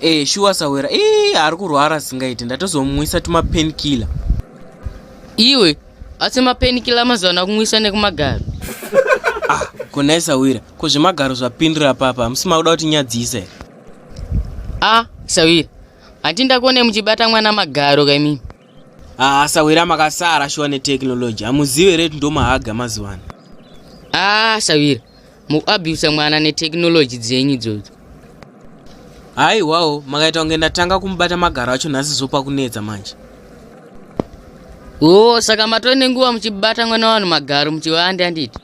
Eh, shuwa sawera ii ari kurwara asingaiti ndatozomumwisa tumapainkiller iwe asi mapainkiller mazuva ano akumwisa nekumagaro ah konai sawira ko zvemagaro zvapindira papa hamusi makuda kuti nyadzisa here ah sawira hati ndakuone muchibata mwana magaro kaimimi ah sawira makasara shuwa netekinoloji hamuzive reti ndomahaga mazuva ano ah sawira mukuabusa mwana netechnology dzenyu idzodzo haiwawo makaita kunge ndatanga kumubata magaro acho nhasi zopa kunetsa manje o saka matove nenguva muchibata mwana wanhu magaro muchivande anditi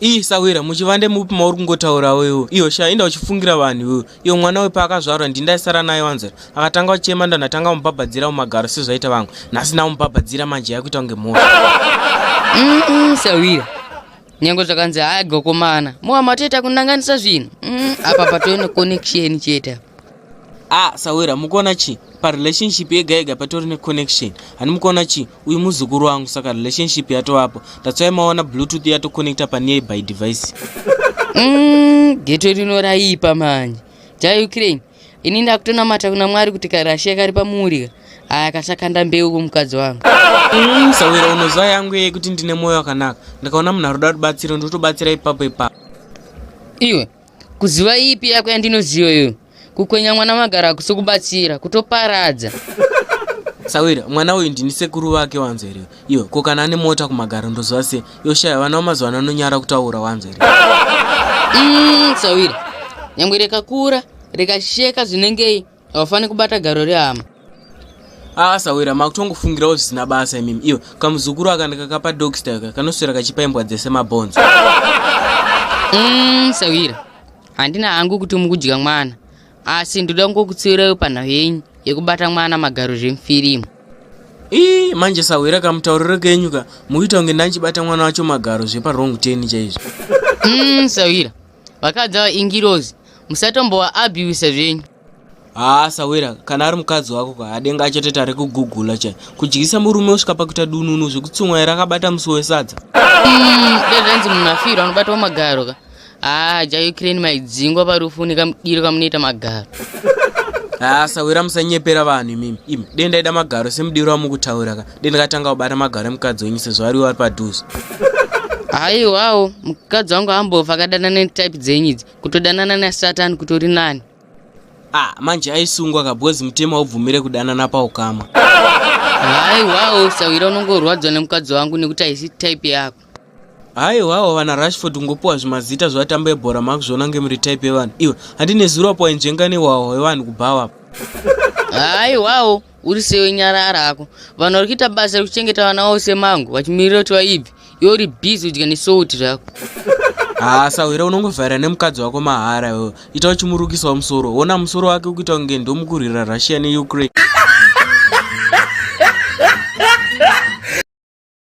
ii sawira muchivande mupi mauri kungotaurawo iwo iyo sha inda uchifungira vanhu iwo iyo mwana we paakazvarwa ndindaisara naye wanzira akatanga uchema ndandatanga kumubhabhadzira mumagaro sezvaita vamwe nhasi namubhabhadzira manje yakuita kunge mhoro sawira nyange zvakanzi hayi gokomana mowa matoita kunanganisa zvinhu mm, apa patove neconnection chete ah sawira mukuona chii parelationship yega yega patori neconnection hani mukuona chii uyu muzukuru wangu saka relationship yatovapo tatswai maona bluetooth yatoconnecta panear by device mm, geto rinoraipa manje jai ukraine ini ndakutonamata kuna mwari kuti karashiya kari pamuurika aya kachakanda mbeu kumukadzi wangu mm, sawira unoziva yangu yeye kuti ndine mwoyo wakanaka ndakaona munhu aroda rubatsiro ndotobatsira ipapo ipapo iwe kuziva ipi yako yandinoziva iyo kukwenya mwana magara akusi kubatsira kutoparadza sawira mwana uyu ndini sekuru vake wanzeriwa Yo, ko kana ane mota kumagaro ndoziva se yoshaya vana vamazuva ano anonyara kutaura wanzwa here mm, tsawira nyangwe rekakura rekasheka zvinengei havafaniri kubata garo rehama aa sawira makutongofungirawo zvisina basa imimi iyo kamuzukuru aka ndikakapa dogstaka kanoswera kachipa imbwa dzese mabhonzo mm, sawira handina hangu kuti mukudya mwana asi ndoda kungokutsiviraiwo panhau yenyu yekubata mwana magaro zvemufirimu ii manje sahwira kamutauriro kenyu ka mukuita kunge ndandichibata mwana wacho magaro zveparong ten chaizvo mm, sahwira vakadzi ava ingirozi musatombova abusa zvenyu haa sawira kana ari mukadzi wako ka adenga achatoti ari kugugula chai kudyisa murume usvika pakuita dununu zvekutsumwa here akabata musi wesadza mm, dezvanzi munhu afirwa anobatawo magaro ka Ah, ja Ukraine maidzingwa parufu nekamudiro kamunoita magaro. Ah, sawira musanyepera vanhu imimi. Imi dai ndaida magaro semudiro wamukutaura ka. Dai ndakatanga kubata magaro emukadzi wenyu sezvo ari wari padhuze. Haiwawo, mukadzi wangu ambofa akadanana netype dzenyu idzi. Kutodanana naSatan kutori nani. Ah, manje aisungwa ka because mutemo haubvumire kudanana paukama. Haiwawo, sawira unongorwadzwa nemukadzi wangu nekuti haisi type yako. haiwawo vana rashford kungopiwa zvimazita zvevatambo ebhora makuzviona ngemuri type yevanhu iwe handi nezuro apo wainzvenga newawo wevanhu kubhawa apo haiwawo uri sewe nyara arako vanhu vari kuita basa rekuchengeta vana wavo semangu vachimirira kuti vaibve iwe uri busy udya nesouti zvako haa sahwira unongovhaira nemukadzi wako mahara iwe ita uchimurukisawo musoro ona musoro wake ukuita kunge ndomukurwira russia neukraine